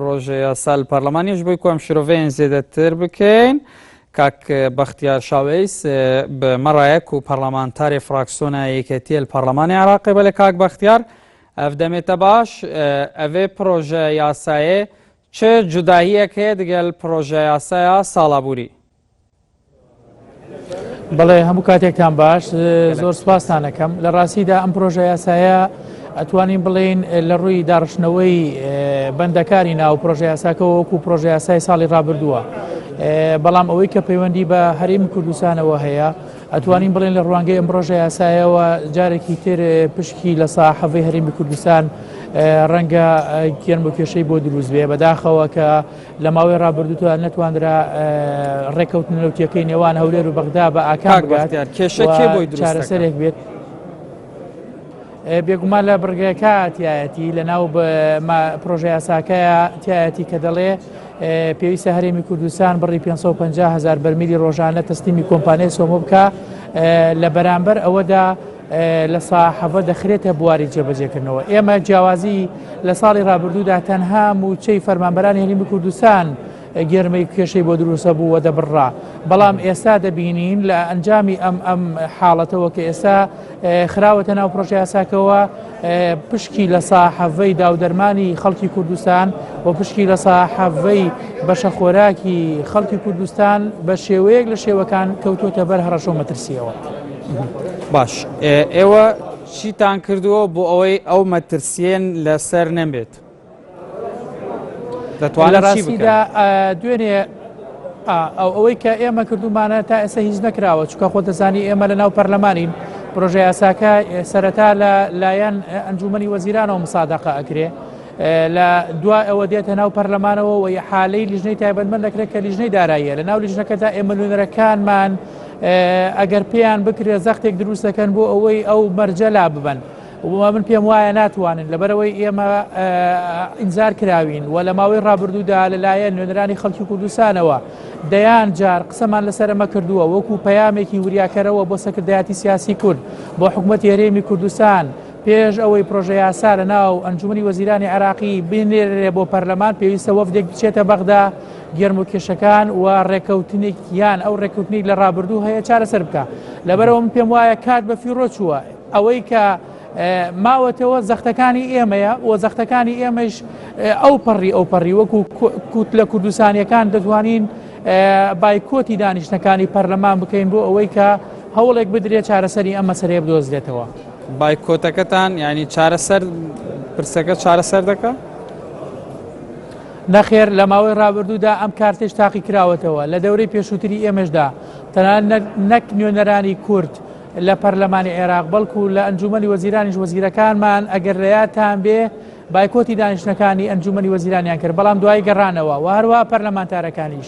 ڕۆژێ یاسا لە پەرلەمانیش بووی کۆم شرۆڤەیەن زێدەتر بکەین کاک بەختیار شاوەیس بە مەڕایەک و پەرلەمانتاری فراکسۆنە یەکێتیە لە پەرلەمانی عراقی بە لە کاک بەختیار ئەف دەمێتە باش ئەێ پرۆژە یاسایە چ جوداهیەک هەیە دگەل پرۆژە یاسایا ساڵابووری بەڵێ هەموو کاتێکتان باش زۆر سپاسانەکەم لە ڕاستیدا ئەم پرۆژە یاسایە ئەتوانین بڵین لە ڕووی داڕشتنەوەی بەندەکاری ناو پرۆژە یاساکە وەکو پرۆژە یاسای ساڵی ڕابردووە بەڵام ئەوەی کە پەیوەندی بە هەریم کوردستانەوە هەیە ئەتوانین بڵێن لە ڕوانگەی ئەم پرۆژە یاسایەوە جارێکی تر پشکی لە ساحەڤی هەرمی کوردستان ڕەنگە گەرم و کێشەی بۆ دروست بێ بەداخەوە کە لە ماوەی ڕابردوودا نەتوانرا ڕێککەوتن نەوتیەکەی نێوان هەولێر و بەغدا بە ئاکار بگات کێشە کێ بۆی چارەسەرێک بێت بێگومان لە بڕگەکە تایەتی لە ناو پرۆژه یاساکە تایەتی کە دەڵێ پێویستە هەرێمی کوردستان بڕی 550 هزار بەرمیلی ڕۆژانە تەستیمی کۆمپانیای سۆمۆ بکە لە بەرامبەر ئەوەدا لە ساحەڤە دەخرێتە بواری جێبەجێکردنەوە ئێمە جیاوازی لە ساڵی ڕابردوودا تەنها موچەی فەرمانبەرانی هەرێمی کوردستان گێرمەی کێشەی بۆ دروستە بوو و دەبڕا بەڵام ئێستا دەبینین لە ئەنجامی ئەم ئەم حاڵەتەوە کە ئێستا خراوەتە ناو پرۆژە یاساکەوە پشکی لە ساحەڤەی داودەرمانی خەڵکی کوردستان و پشکی لە ساحەڤەی بەشە خۆراکی خەڵکی کوردستان بە شێوەیەک لە شێوەکان کەوتوتە بەر هەڕەشە و مەترسیەوە. باش ئێوە چیتان کردووە بۆ ئەوەی ئەو مەترسیێن لەسەر نەمێت دەتوانە ڕاستیدا دوێنێ ئەو ئەوەی کە ئێمە کردومانە تا ئێستا هیچ نەکراوە چکە خۆ دەزانی ئێمە لە ناو پەرلەمانین پرۆژه یاساکە سەرەتا لە لایەن ئەنجومی وەزیرانەوە مسادەقە ئەکرێ لە دوا ئەوە دێتە ناو پەرلەمانەوە و حالەی لیژنەی تایبەتمەند دەکرێت کە لیژنەی داراییە لە ناو لیژنەکەدا ئێمە نوێنەرەکانمان ئەگەر پێیان بکرێت زەختێک دروست دەکەن بۆ ئەوەی ئەو مەرجە لا ببەن من پێم وایە ناتوانن لەبەرەوەی ئێمە ئینجار کراوین و لە ماوەی ڕابردوودا لەلایەن نوێنەرانی خەڵکی کوردستانەوە دەیان جار قسەمان لەسەرمە کردووە وەکو پەیامێکی وریاکەرەوە بۆ سەکردایەتی سیاسی کورد بۆ حکوومەت هێرێمی کوردستان پێش ئەوەی پرۆژە یاسا لە ناو ئەنجومی وەزیرانی عراقی بینێرێ بۆ پەرلەمان پێویستە وەفدێک بچێتە بەغدا گێرمۆکێشەکان و ڕێکەوتنێکیان ئەو ڕێکوتنی لە ڕابردوو هەیە چارەسەر بکە لەبەرەوە من پێم وایە کات بە فیڕۆ چووە ئەوەی کە ماوەتەوە زەختەکانی ئێمەیە و زەختەکانی ئێمەش ئەو پەڕی ئەو پەڕی وەکو کووت لە کوردستانیەکان دەتوانین بایکۆتی دانیشتەکانی پەرلەمان بکەین بۆ ئەوەی کە هەوڵێک بدرێت چارەسەری ئەم مەسەرەیە بدۆزرێتەوە بایکۆتەکەتان ینی چارەسەر پرسەکە چارەسەر دەکە نەخێر لە ماوەی رابردوودا ئەم کارتەیش تاقیکراوەتەوە، لە دەورەی پێشووتری ئێمەشدا تەنانەت نەک نوێنەرانی کورد لە پەرلەمانی عێراق بەڵکو لە ئەنجوومەنی وەزیرانیش وەزیرەکانمان ئەگەر لە یادتان بێ بایکۆتی دانیشتنەکانی ئەنجوومەنی وەزیرانیان کرد بەڵام دوایی گەڕانەوە و هەروەها پەرلەمانتارەکانیش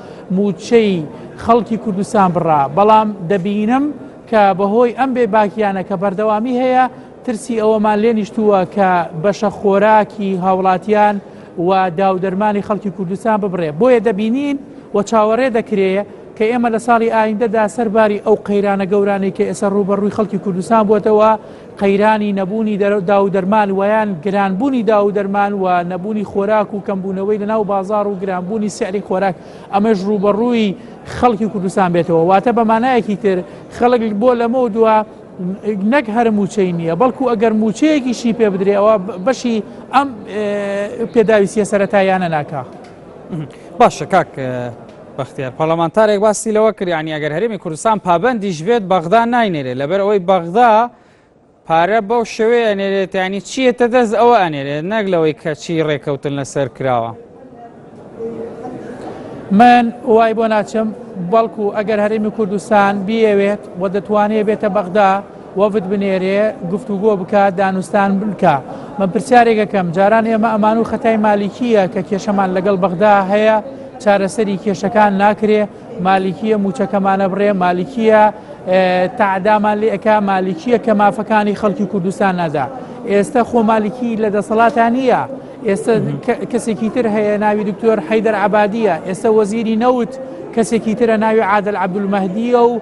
مووچەی خەڵکی کوردستان بڕا، بەڵام دەبینم کە بەهۆی ئەم بێ باکییانە کە بەردەوامی هەیە، ترسی ئەوەمان لێ نیشتووە کە بەشە خۆراکی هاوڵاتیان و داودەرمانی خەڵکی کوردستان ببڕێ. بۆیە دەبینین و چاوەڕێ دەکرێ کە ئێمە لە ساڵی ئایندەدا سەر باری ئەو قەیرانە گەورانەی کە ئێستا ڕووبەڕووی خەڵکی کوردستان بووەتەوە، قەیرانی نەبوونی داوودەرمان وەیان گرانبوونی داوودەرمان و نەبوونی خۆراک و کەمبوونەوەی لەناو بازار و گرانبوونی سعری خۆراک ئەمەش ڕووبەڕووی خەڵکی کوردستان بێتەوە واتە بەمانایەکی تر خەڵک بۆ لەمە دووە نەک هەر موچەی نییە بەڵکو ئەگەر موچەیەکیشی پێ بدرێەوە بەشی ئەم پێداویستە سەتاییانە ناکە باشە کاک بەختیار پەڕلەمانتارێک باسی لەوە کرد یانی ئەگەر هەرێمی کوردستان پابەندیش بێت بەغدا ناینێرێت لەبەر ئەوەی بەغدا پارە بەو شێوەیە ئەنێرێت ینی چیەتە دەست ئەوە ئەنێرێت نەک لەوەی کەچی ڕێکەوتن لەسەر کراوە. من وای بۆ ناچم بەڵکو ئەگەر هەرێمی کوردستان بیەوێت و دەتوانێت بێتە بەغدا وەفد بنێرێ گفتوگۆ بکا دانوستان بکا من پرسیارێکەکەم جاران ئێمە ئەمان و خەتای مالیکیە کە کێشەمان لەگەڵ بەغدا هەیە چارەسەری کێشەکان ناکرێ مالیکیە موچەکەمانە بڕێ مالیکیە تعدامان لێکە مالیکیە کە مافەکانی خەڵکی کوردستان نادا ئێستا خۆ مالیکی لە دەسەڵاتان نییە ئێستا کەسێکی تر هەیە ناوی دکتۆر حەیدەر عبادیە ئێستا وەزیری نەوت کەسێکی ترە ناوی عادل عبدول مەهدیە و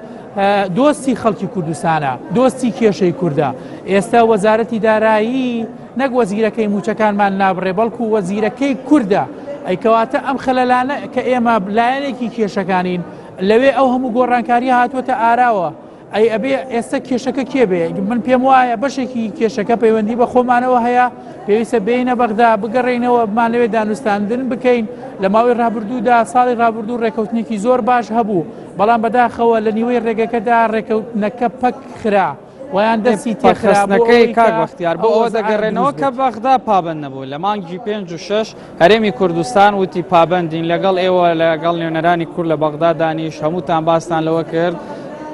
دۆستی خەڵکی کوردستانە دۆستی کێشەی کووردە ئێستا وەزارەتی دارایی نەک وەزیرەکەی موچەکانمان نابڕێ بەڵکو وەزیرەکەی کووردە ئەیکەواتە ئەم خەلەلانە کە ئێمە لایەنێکی کێشەکانین لەوێ ئەو هەموو گۆڕانکاری هاتووەتە ئاراوە ئەی ئەبێ ئێستا کێشەکە کێ بێ من پێم وایە بەشێکی کێشەکە پەیوەندی بە خۆمانەوە هەیە پێویستە بینە بەغدا بگەڕینەوە بمان لەوێ دانوستاندن بکەین لە ماوەی ڕابردوودا ساڵی ڕابردوو ڕێکەوتنێکی زۆر باش هەبوو بەڵام بەداخەوە لە نیوەی ڕێگەکەدا ڕێکەوتنەکە پەک خرا ویان دەستی تێخستنەکەی کاک بەختیار بۆ ئەوە دەگەڕێنەوە کە بەغدا پابند نەبوو لە مانگی پێنج و شش هەرێمی کوردستان وتی پابندین لەگەڵ ئێوە لەگەڵ نوێنەرانی کورد لە بەغدا دانیش هەمووتان باستان لەوە کرد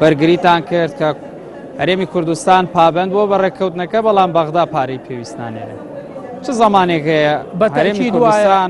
بەرگریتان کرد کە هەرێمی کوردستان پابند بۆ بە ڕێککەوتنەکە بەڵام بەغدا پارەی پێویستانێنێت چ زمانێک هەیە بەتەرێمی کوردستان.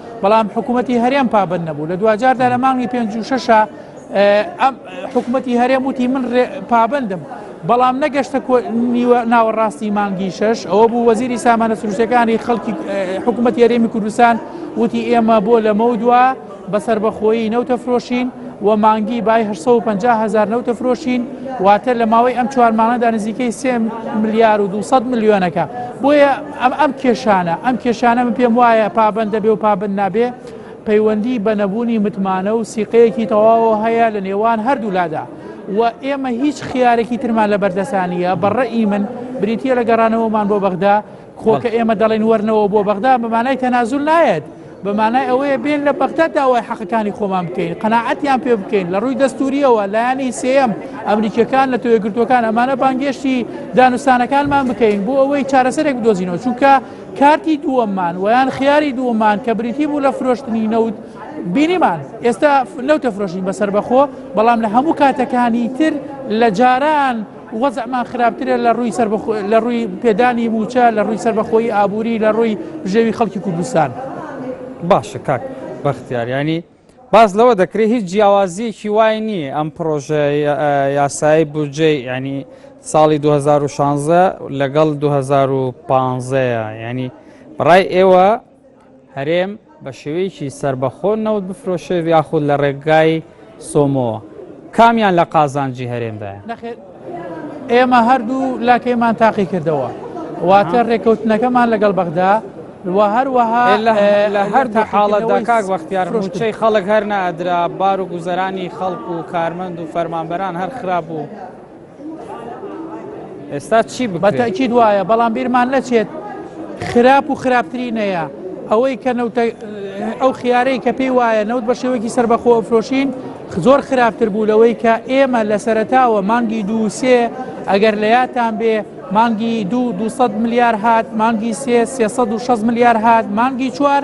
بەڵام حکوومەتتی هەرێم پابند نەبوو لە دواجاردا لە مانگی پێنج و شەشە ئەم حکوومەتتی هەرێم وتی من پابندم بەڵام نەگەشتە ناوەڕاستی مانگی شش ئەوە بوو وەزیری سامانە سروشتەکانی خەڵکی حکوومەت یاریێمی کوردستان وتی ئێمە بۆ لەمە دووە بەسەر بەخۆیی نەوتە فرۆشین و مانگی بای 1950هزار نەوتە فرۆشین واتە لە ماوەی ئەم چوارمانەدا نزیکەی سێ ملیار و 200 میلیۆنەکە بۆیە ئەم ئەم کێشانە ئەم کێشانە من پێم وایە پابەند دەبێ و پابەند نابێ پەیوەندی بە نەبوونی متمانە و سیقەیەکی تەواوە هەیە لە نێوان هەردوولادا و ئێمە هیچ خیارێکی ترمان لە بەردەسانیە بەڕێی من بریتە لە گەڕانەوەمان بۆ بەغدا کۆکە ئێمە دەڵێن وەرنەوە بۆ بەغدا بەمانای تەنازول نایەت بە مانای ئەوەیە بێن لە بەغدا داوای حەقەکانی خۆمان بکەین قەنەعەتیان پێ بکەین لە ڕووی دەستوریەوە لایەنی سێم ئەمریکیەکان لە تۆێگرتوەکان ئەمانە بانگێشتی دانوستانەکانمان بکەین بۆ ئەوەی چارەسەرێک بدۆزینەوە چونکە کارتی دووەممان ویان خیاری دووەمان کە بریتی بوو لە فرۆشتنی نەوت بینیمان ئێستا نەوتە فرۆشین بەسەر بەخۆ بەڵام لە هەموو کاتەکانی تر لە جاران وەزعمان خراپترە لە ڕووی سەربەخ... لە ڕووی پێدانی موچە لە ڕووی سەربەخۆی ئابووری لە ڕووی بژێوی خەڵکی کوردستان باشە کاک بەختیاریانی باز لەوە دەکرێت هیچ جیاوازیەکی وای نییە ئەم پرۆژە یاسایی بودجەی ینی ساڵی 2016 لەگەڵ 2015 ینی بەڕای ئێوە هەرێم بە شێوەیەکی سەربەخۆ نەوت بفرۆشێت یاخود لە ڕێگای سۆمۆوە کامیان لە قازانجی هەرێمدایە؟ نەخێر ئێمە هەردوو لاکەیمان تاقی کردەوە واتە ڕێکەوتنەکەمان لەگەڵ بەغدا و هەروەها لە هەردوو حاڵەتدا کاک بەختیار ڕوچەی خەڵک هەر نادرا بار و گوزەرانی خەڵک و کارمەند و فەرمانبەران هەر خراپ بوو. ئێستا چی بە تاکیید وایە بەڵام بیرمان نەچێت خراپ و خراپترینەیە ئەوەی کە نەوتە ئەو خیارەی کە پێی وایە نەوت بە شێوەکی سربەخۆ فرۆشین زۆر خراپتر بوو لەوەی کە ئێمە لە سەرتاوە مانگی دووسێ ئەگەر لە یاتان بێ مانگی دوو 200 ملیار هات مانگی سێ 360 ملیار هات مانگی چوار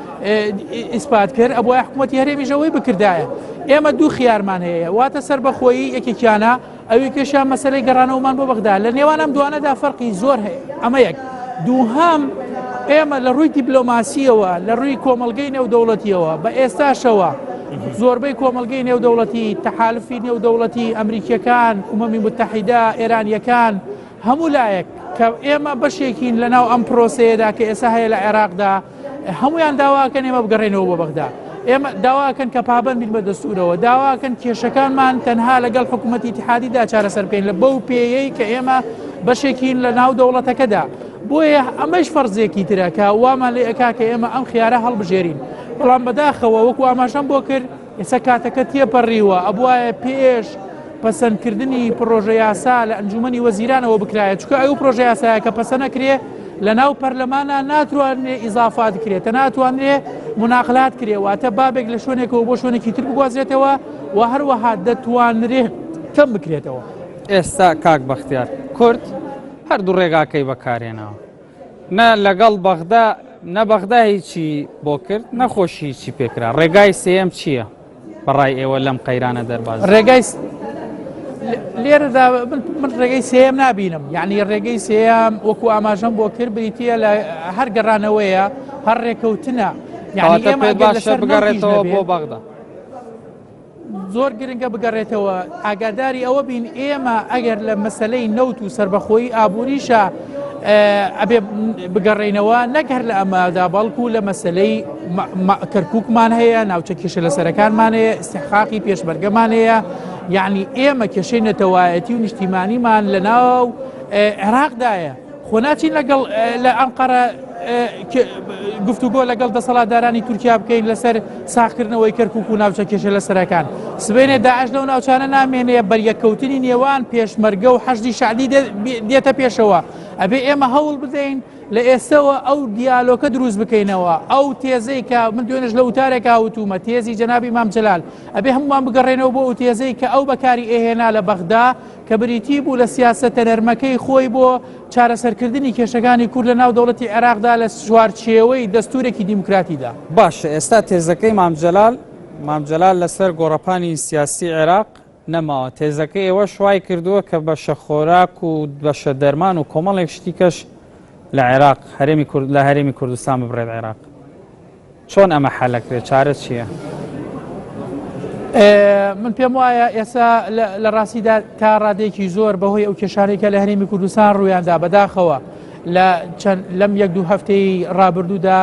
ئیسپات کرد ئەبواە حکوومەتتی هەرێمیش ئەوەی بکردایە ئێمە دوو خیارمان هەیە واتە سربەخۆیی یەکێکیانە ئەوی کێشیان مەسلەی گەڕانەوەمان بۆ بەغدا لە نێوانم دوانەدا فەرقی زۆر هەیە ئەمە یەک دووهام ئێمە لە ڕووی دیبلۆماسیەوە لە ڕووی کۆمەلگەی نێودەوڵەتیەوە بە ئێستاشەوە زۆربەی کۆمەلگەی نێودەوڵەتی تەحالفی نێودەوڵەتی ئەمریکیەکان عمەمی متحیدا ئێرانیەکان هەموو لایەک کە ئێمە بەشێکین لە ناو ئەم پرۆسەیەدا کە ئێسا هەیە لە عێراقدا هەموویان داواکەن ئێمە بگەڕێنەوە بۆ بەغدا ئێمە داواکەن کە پابند بین بە دەستورەوە داواکەن کێشەکانمان تەنها لەگەڵ حکوومەتی اتحادیدا چارەسەر بکەین لە بەو پێیەی کە ئێمە بەشێکین لە ناو دەوڵەتەکەدا بۆیە ئەمەش فەرزێکی ترەکە وامان لێ ئەکا کە ئێمە ئەم خیارە هەڵبژێرین بەڵام بەداخەوە وەکو ئاماشەم بۆ کرد ئێستا کاتەکە تێپەڕیوە، ئەبوایە پێش پەسەندکردنی پڕۆژەیاسا لە ئەنجوومەنی وەزیرانەوە بکرایە، چونکە ئەو پڕۆژەیاسایە کە پەسەنەکرێ لەناو پەرلەمانا ناتوانرێ ئیزافات کرێ، تە ناتوانرێ مناقلات کرێ، واتە بابێک لە شوێنێکەوە بۆ شوێنێکی تر بگوازرێتەوە و هەروەها دەتوانرێ کەم بکرێتەوە. ئێستا کاک بەختیار کورد هەردوو ڕێگاکەی بەکارهێناوە، نە لەگەڵ بەغدا نە بەغدا هیچی بۆ کرد نەخۆشی هیچی پێکرا ڕێگای سێم چییە بەڕای ئێوە لەم قەیرانە دەرباز ڕێگای لێرەدا من ڕێگەی سێم نبینم یعنی ڕێگەی سێم وەکو ئاماژەم بۆ کرد بریتە لە هەر گەڕانەوەیە هەر ڕێکەوتنە یعنی ئێمە باشە بگەڕێتەوە بۆ بەغدا زۆر گرنگە بگەڕێتەوە ئاگاداری ئەوە بین ئێمە ئەگەر لە مەسلەی نەوت و سربەخۆی ئابووریشە ئەبێ بگەڕێنەوە نەک هەر لە ئەمادا بەڵکو لە مەسلەی کەرککمان هەیە ناوچە کێشە لە سەرەکانمان هەیە استحقاقی پێشمەرگەمان هەیە یعنی ئێمە کێشەی نەتەوایەتی و نیشتیمانیمان لە ناو عێراقدایە خۆ ناچین لەگەڵ لە ئەنقەرە گفتوگۆ لەگەڵ دەسەڵاتدارانی تورکیا بکەین لەسەر ساخکردنەوەی کەرکک و ناوچە کێشە لە سەرەکان سبێنێ داعش لەو ناوچانە نامێنێ بەریەککەوتنی نێوان پێشمەرگە و حەشدی شعبی دێتە پێشەوە ئەبێ ئێمە هەوڵ بدەین لە ئێستەوە ئەو دیالۆکە دروست بکەینەوە ئەو تێزەی کە من دوێنش لە وتارێکا وتومە تێزی جەنابی مامجلال ئەبێ هەمووان بگەڕێنەوە بۆ ئەو تێزەی کە ئەو بەکاری ئێهێنا لە بەغدا کە بریتی بوو لە سیاسەتە نەرمەکەی خۆی بۆ چارەسەرکردنی کێشەکانی کورد لە ناو دەوڵەتی عێراقدا لە چوارچێوەی دەستوورێکی دیموکراتیدا. باشە ئێستا تێزەکەی مام جەلال مام جەلال لەسەر گۆڕەپانی سیاسی عێراق نەماوە، تێزەکەی ئێوەش وای کردووە کە بەشە خۆراک و بەشە دەرمان و کۆمەڵێک شتی کەش لە عێراق هەرێمی کورد لە هەرێمی کوردستان ببڕێت عێراق. چۆن ئەمە حەلەکرێت چارە چیە؟ من پێم وایە ئێستا لە ڕاستیدا تا ڕادێکی زۆر بەهۆی ئەو کێشارێکە لە هەرێمی کوردستان ڕوویاندا بەداخەوە لە چەند لەم یەک دوو هەفتەی ڕابردوودا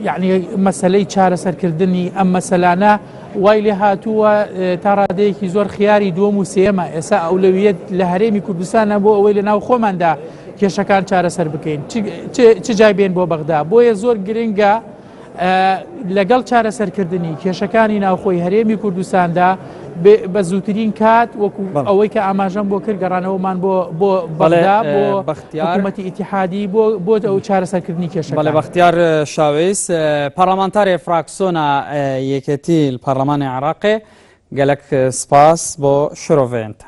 یعنی مەسلەی چارەسەرکردنی ئەم مەسەلانە وای لێ هاتووە تا ڕادەیەکی زۆر خیاری دووەم و سێمە ئێسا ئەولەویت لە هەرێمی کوردستانە بۆ ئەوەی لە ناو خۆماندا کێشەکان چارەسەر بکەین چ جای بێن بۆ بەغدا بۆیە زۆر گرنگە لەگەڵ چارەسەرکردنی کێشەکانی ناوخۆی هەرێمی کوردستاندا بە زووترین کات وەکو ئەوەی کە ئاماژەم بۆ کرد گەڕانەوەمان بۆ بۆ بەڵێدا بۆ بەختیارمەتی ئیتحادی بۆ بۆ ئەو چارەسەرکردنی کێشە بەڵێ بەختیار شاویس پەرلەمانتارێ فراکسۆنا یەکێتی پەرلەمانی عراقێ گەلک سپاس بۆ شرۆڤێنتە